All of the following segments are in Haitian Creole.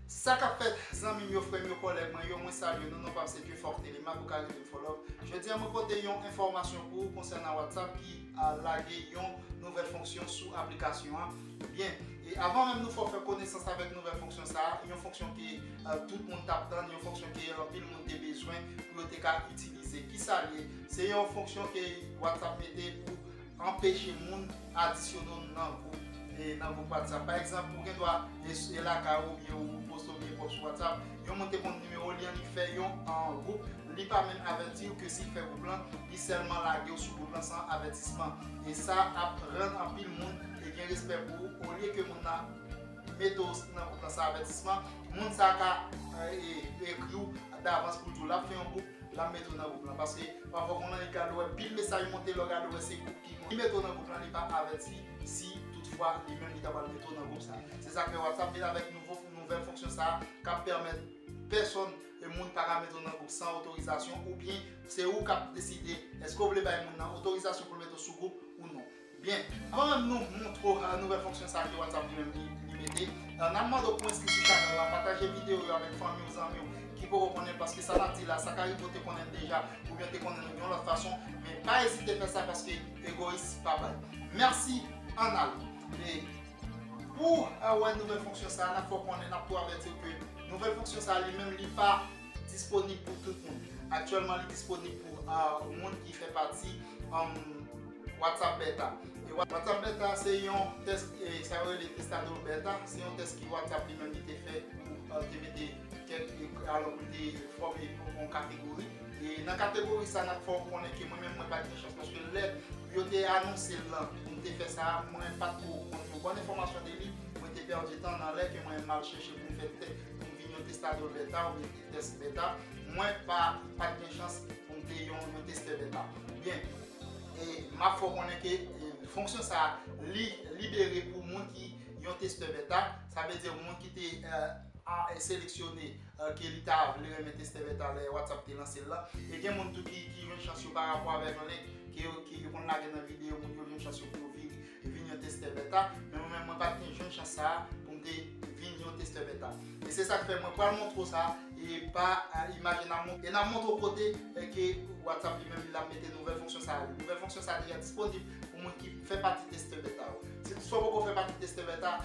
Sa kap fèt zanmim yo frèm yo kòlèg mwen yo mwen salye nou non pam se Dieufort Thélémaque ou ka relem Fòlòp jodi an mwen pote yon enfòmasyon pou ou konsènan WhatsApp ki lage yon nouvèl fonksyon sou aplikasyon an byen e avan menm nou fò fè konesans avèk nouvèl fonksyon sa yon fonksyon ke tout moun tap tann yon fonksyon ke anpil moun te bezwen pou yo te ka itilize kisa l ye se yon fonksyon ke WhatsApp mete pou Anpeche moun adisyone w nan gwoup e nan gwoup WhatsApp. Pa egzanp, ou gen dwa e s e lakay ou oubyen ou poste oubyen pòs sou WhatsApp, yon moun te konn nimewo li an li fè yon an gwoup, li pa menm avèti w ke si l fè gwoup lan, li sèlman lage w sou gwoup lan san avètisman. E sa ap rann anpil moun e gen respè pou ou olye ke moun nan mete w nan gwoup lan san avètisman, moun sa ka e ekri w davans pou l di w l ap fè yon gwoup, Lap mete w nan group lan paske pafwa moun lan li gad ou wè pil mesaj monte lè w gade wè se group ki monte li mete w nan group lan li pa avèti si tout fwa li menm li ta pral mete w nan group sa se sak fè whatsapp vin avèk nouvo nouvèl fonksyon sa kap pèmèt pèsòn e moun paka mete w nan group san otorizasyon oubyen se ou kap deside èske w vle bay moun lan otorizasyon pou l mete w sou group ou non. Byen, anvan nou moutre w nouvèl fonksyon sa ke WhatsApp li menm li mete, n ap mande w pou w enskri sou chanèl la, pataje videyo yo avèk fanmi w, zanmi w ki poko konnen paske sa n ap di la sa ka rive w te konnen l deja oubyen w te konnen l yon lòt fason men pa ezite fè sa paske egoyis pa bay mèsi ann ale e pou w wè nouvèl fonksyon sa n ap fè w konnen n ap tou avèti w ke nouvèl fonksyon sa li menm li pa disponib pou tout moun aktyèlman li disponib pou moun ki fè pati WhatsApp Beta E WhatsApp Beta se yon test sa yo rele Testador Beta se yon test ki WhatsApp li menm li te fè pou l te mete kèk alò pou l te fòme yon kategori e nan kategori sa n ap fè w konnen ke mwen menm mwen pa t gen chans paske lè yo te anonse l lan m te fè sa mwen pa t ko konn yon bòn enfòmasyon de li mwen te pèdi tan nan lè ke mwen m al chèche pou m fè tè pou m vin yon Testador Beta ou byen test Beta mwen pa t gen chans pou m te yon testè Beta byen. E m ap fè w konnen ke fonksyon sa a li libere pou moun ki yon testè beta, sa vle di moun ki te seleksyone ke li ta vle renmen testè beta lè WhatsApp te lanse l lan. E gen moun tou ki jwenn chans yo parapò avèk link ke yo konn lage nan videyo moun yo jwenn chans yo pou yo vini. te vin yon testè beta men mwen menm mwen pat gen jwenn chans sa poum te vin yon testè beta e se sak fè mwen pral montre w sa e pa imaj e nap e nap montre w kote ke whatsapp li menm li lap mete nouvèl fonksyon sa yo nouvèl fonksyon sa deja disponib pou moun ki fè pati testè beta yo si w poko fè pati testè beta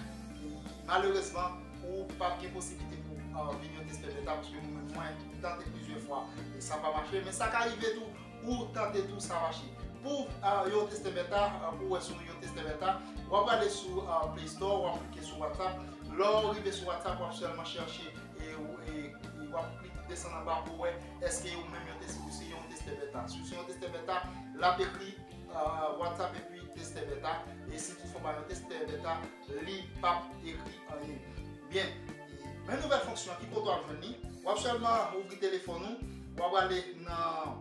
malerezman ou pap gen posiblite pou vin yon testè beta paske mwen menm mwen tante plizyè fwa e sa pa mache men sa ka rive tou Ou tande tou sa mache. Pouw yon teste beta pouw wè si w yon teste beta wap prale sou play store wap klike sou whatsapp lèw rive sou whatsapp wap sèlman chèche e wap klike desann anba pouw wè èske ou menm ou se yon teste beta si w se yon teste beta lap ekri whatsapp epi teste beta e si tout fwa w pa yon teste beta li pap ekri anyen byen. Men nouvèl fonksyon an ki kote wap jwenn li, wap sèlman ouvri telefòn ou, wap prale nan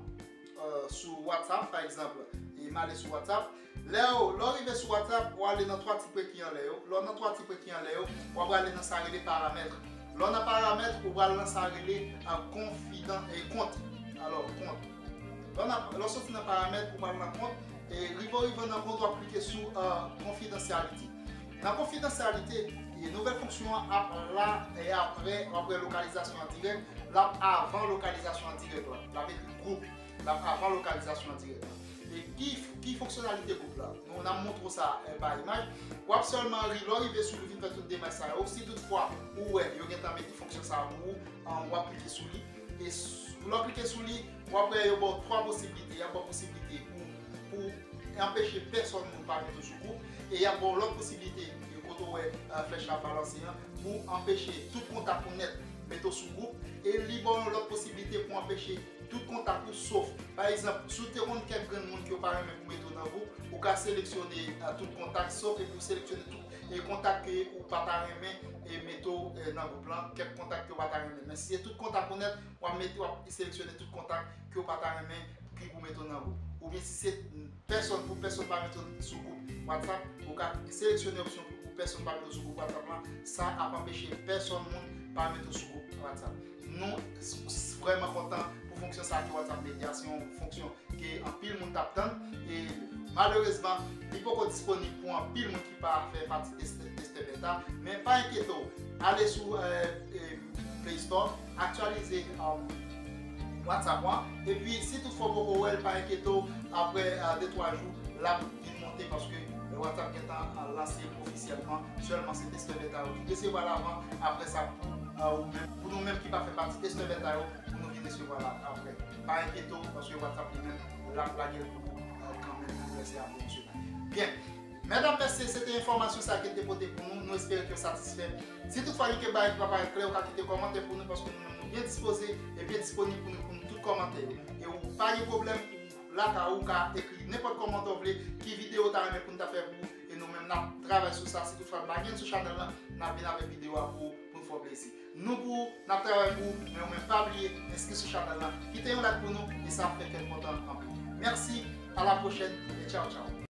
sou WhatsApp pa egzanpl, e male sou WhatsApp, lèw lèw rive sou WhatsApp wap ale nan 3 ti pre ki anlè yo, lèw nan 3 ti pre ki anlè yo, wap prale nan sa rele paramèt, lèw nan paramèt ou pral nan sa rele konfidan e kont, alò kont, lèw soti nan paramèt ou pral nan kont, e rive w rive nan kont wap klike sou konfidansyaliti. Nan konfidansyalite, nouvèl fonksyon an ap la e apre w ap wè Lokalizasyon an Dirèk, l ap avan Lokalizasyon an Dirèk la. L ap ekri Gwoup, l ap avan Lokalizasyon an Dirèk la. E ki fonksyonalite gwoup la? Nou nan montre w sa pa imaj. W ap sèlman ri lè w rive sou li vin fè tout demach sa yo. Si tout fwa ou wè yo gentan mete fonksyon sa pou ou, w ap klike sou li. E lè w klike sou li, w ap wè yo ba w 3 posiblite. Y ap ba w posiblite pou pou anpeche pèsòn moun pa mete w sou kou e y ap ba w lòt posiblite kote w wè flèch la ap balanse an pou anpeche tout kontak ou nèt mete w sou kou e li ba w yon lòt posiblite pou anpeche tout kontak ou sof pa egzanp si w te konn kèk grenn moun ke w pa renmen pou mete w nan kou ou ka seleksyone tout kontak sof epi w seleksyone tout e kontak ke ou pa ta renmen e mete w nan gwoup lan kèk kontak ke w pa ta renmen men si se tout kontak ou nèt w ap mete w ap seleksyone tout kontak. ke w pa ta renmen ki pou mete w nan gwoup oubyen si se pèsòn pou pèsòn pa mete w sou gwoup whatsapp ou ka seleksyone opsyon pou pèsòn pa mete w sou gwoup whatsapp lan sa ap anpeche pèsòn moun pa mete w sou gwoup whatsapp nou vrèman kontan pou fonksyon sa ki whatsapp media se yon fonksyon ke anpil moun tap tann e malerezman li poko disponib pou anpil moun ki pa fè pati testè beta men pa enkyete w ale sou play store Aktyalize WhatsApp ou an epi si tout fwa ou poko wèl pa enkyete w aprè de twa jou lap vin monte paske WhatsApp gentan lanse ofisyèlman sèlman se testè beta yo ki resevwa l avan aprè sa pou ou menm pou nou menm ki pa fè pati testè beta yo pou nou ki resevwa l aprè pa enkyete w paske WhatsApp li menm lap lage l pou ou kanmenm aprè se apre ou se la byen. Medam mesye se te enfòmasyon sa kel te pote pou nou, nou espere ke yo satisfè. Si tout fwa gen kek bagay ki pa parèt klè ou ka kite kòmantè pou nou paske nou menm nou byen dispoze e byen disponib pou nou reponn tout kòmantè yo. E ou pa gen pwoblèm ou la ka ou ka ekri nenpòt kòmantè ou vle ki videyo ou ta renmen pou nou ta fè pou ou e nou menm nap travay sou sa si tout fwa pa gen sou chanèl lan nap vin avèk videyo a pou ou pou nou fè w plezi. Nou pou ou, nap travay pou ou men ou menm pa bliye enskri sou chanèl lan kite yon like pou nou e sa ap fè kè n kontan anpil. Mèsi, a la pwochèn e tchaw tchaw.